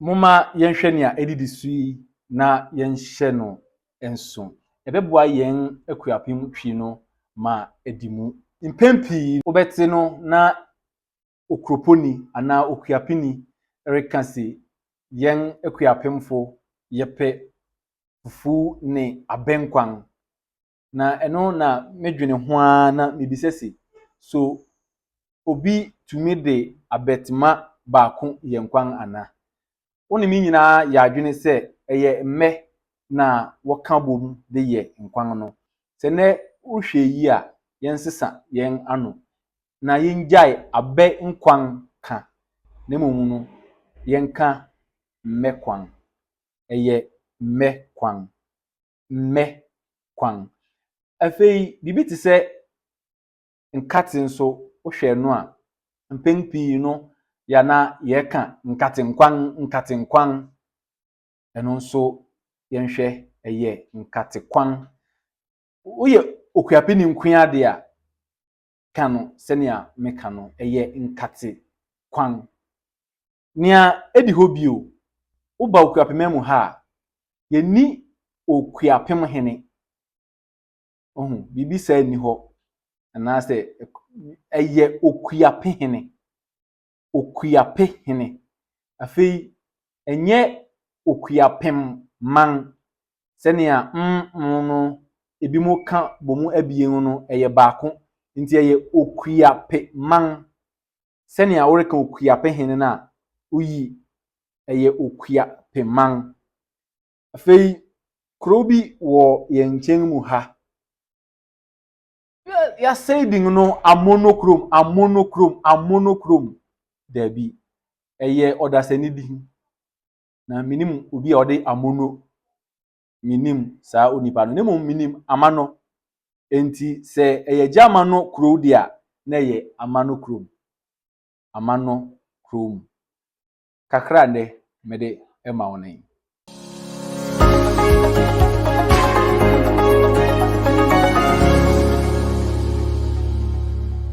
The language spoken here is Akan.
Momma yɛnhwɛ nea edidi so yi na yɛnhyɛ no nsow. Ɛbɛboa yɛn akuapem twi no ma adi mu. Mpɛn pii no, wobɛte no na okuroponi anaa okuapeni reka se, Yɛn akuapemfo, yɛpɛ fufu ne abɛnkwan. na ɛno na medwene ho ara na mebisa se, So obi tumi de abɛtema baako yɛ nkwan ana? Wo ne me nyinaa yɛ adwene sɛ ɛyɛ mmɛ na wɔka bom de yɛ nkwan no. Sɛ nnɛ wohwɛ eyi a, yɛnsesa yɛn ano na yengyae abɛ nkwan ka na mmom no yɛnka mmɛ kwan. Ɛyɛ mmɛ kwan. mmɛ kwan. Afei biribi te sɛ nkate nso wohwɛ no a, mpɛn pii no yɛ na yɛka nkatenkwan nkatenkwan. Ɛno nso yɛnhwɛ ɛyɛ nkatekwan. Woyɛ okuapeni nkoa de a, ka no sɛnea meka no, ɛyɛ nkatekwan. Nea edi hɔ bio, woba Okuapema mu ha a, yenni Okuapem Hene. Ohu, biribi saa nni hɔ, anaasɛ ɛyɛ Okuape Hene. Okuape Hene. Afei, ɛnyɛ Okuapem Man, sɛnea mm no ebinom ka bɔ mu abien no, ɛyɛ baako. Enti ɛyɛ Okuape Man. sɛnea woreka Okuapehene no a, oyi, ɛyɛ Okuapeman. Afei kurow bi wɔ yɛn nkyɛn mu ha. Yɛasɛe din no Amono kurom, Amono kurom, Amono kurom. Daabi, ɛyɛ ɔdasani din. Na menim obi a ɔde Amono menim saa onipa no, na mmom menim ama no. Enti sɛ ɛyɛ gya ama no kurow de a, na ɛyɛ ama no kurom. Ama no kurom. Kakra nnɛ mede ma wo no yi.